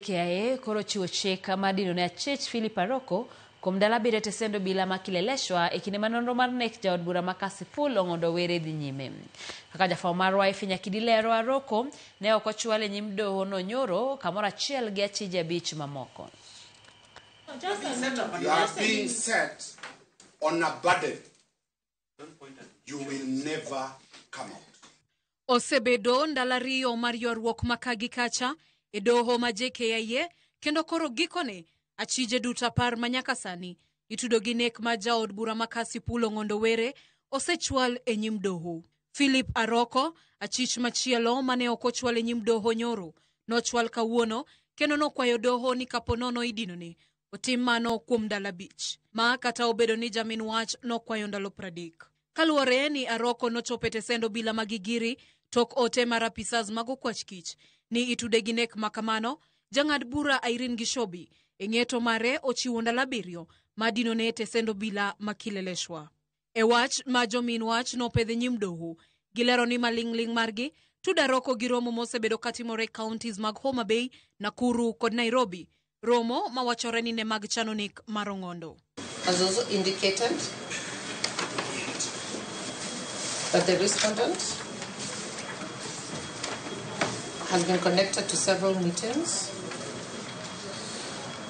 KIA koro ochiwo chik mar dino ne achich Philip Aroko kuom ndalo abiriyo te sendo obila ma Kileleshwa e kinde ma nonro mar nek jaod bura ma Kasipul Ong'ondo Were dhi nyime. Kaka jafwambo marwa Efi Nyakidi lero, Aroko ne ok ochwal e nyim doho no nyoro kamoro achiel gi achije abich mamoko. You are being set on a burden. you will never come out. Osebedo ndalo ariyo mar ywaruok ma ka gi kacha e doho ma JKIA kendo koro gikone achije duto apar ma nyaka sani itudo gi nek ma jaod bura ma Kasi Pulo Ng'ondo Were osechwal e nyim doho. Philip Aroko, achich machielo mane ok ochwal e nyim doho nyoro, nochwal kawuono kendo nokwayo doho ni kapo nono idinone Otim mano kuom ndalo abich, ma kata obedo ni jamin wach nokwayo ndalo pradek. Kaluwore ni Aroko nochopo e tesend obila ma Gigiri tok ote mar apisas mag okwach kich ni itude gi nek ma kamano, jang'ad bura Irene Gishobi e ng'eto mare ochiwo ndalo abiriyo ma dinone e tesend obila ma Kileleshwa. E wach ma jomin wach nopedh e nyim doho, gilero ni maling'ling' margi tuda roko gi romo mosebedo katimore e counties mag Homa Bay, Nakuru kod Nairobi, romo mawachore ni ne mag chano nek mar Ong'ondo. has also indicated that the respondent has been connected to several meetings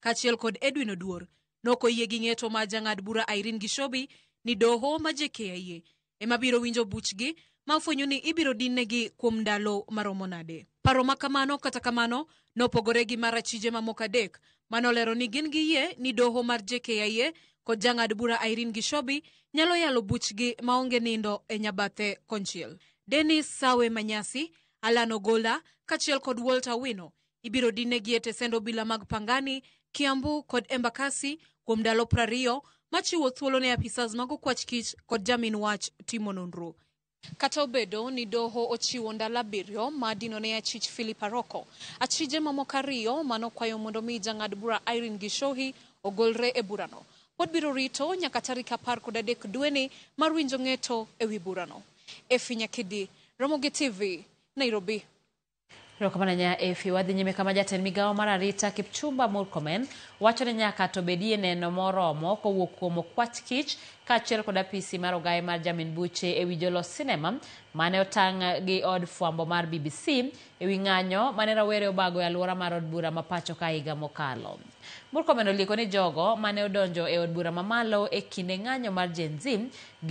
kaachiel kod Edwin Oduor nok oyie gi ng'eto ma jang'ad bura Irene Gishobi ni doho ma JKIA ema biro winjo buchgi ma ofwenyo ni ibiro dinnegi kuom ndalo maromo nade. Paro ma kamano kata kamano nopogore gi mar achije mamoko adek manolero ni gin gi yie ni doho mar JKIA kod jang'ad bura Irene Gishobi nyalo yalo buchgi maonge nindo e nyabathe konchiel. Dennis Sawe Manyasi, Allan Ogolla kaachiel kod Walter Owino Ibiro dinegi e tesend obila mag Pangani, Kiambu kod Embakasi kuom ndalo prariyo machiwo thuolo ne apisas mag okwach kich kod jamin wach timo nonro. Kata obedo ni doho ochiwo ndalo abiriyo ma dino ne achich Philip Aroko, achije mamoko ariyo ma nokwayo mondo mi jang'ad bura Irene Gishohi ogolre e burano, pod biro rito nyaka tarik apar kod adek dweni mar winjo ng'eto e wi burano. Effie Nyakidi, Ramogi TV, Nairobi. Erokamano nya Efi. Wadhi nyime kama jatend migawo mar arita Kipchumba Murkomen wacho ni nyaka to bedie neno moromo kowuok kuom okwach kich kaachiel kod apisi mar ogaye mar Jamin Buche ewi jolos sinema mane otang' gi od fwambo mar BBC ewi ng'anyo mane rawere obago e aluora mar od bura ma pachoka higa mokalo. Murkomen olieko ni jogo mane odonjo e od bura mamalo e kinde ng'anyo mar Gen Z gi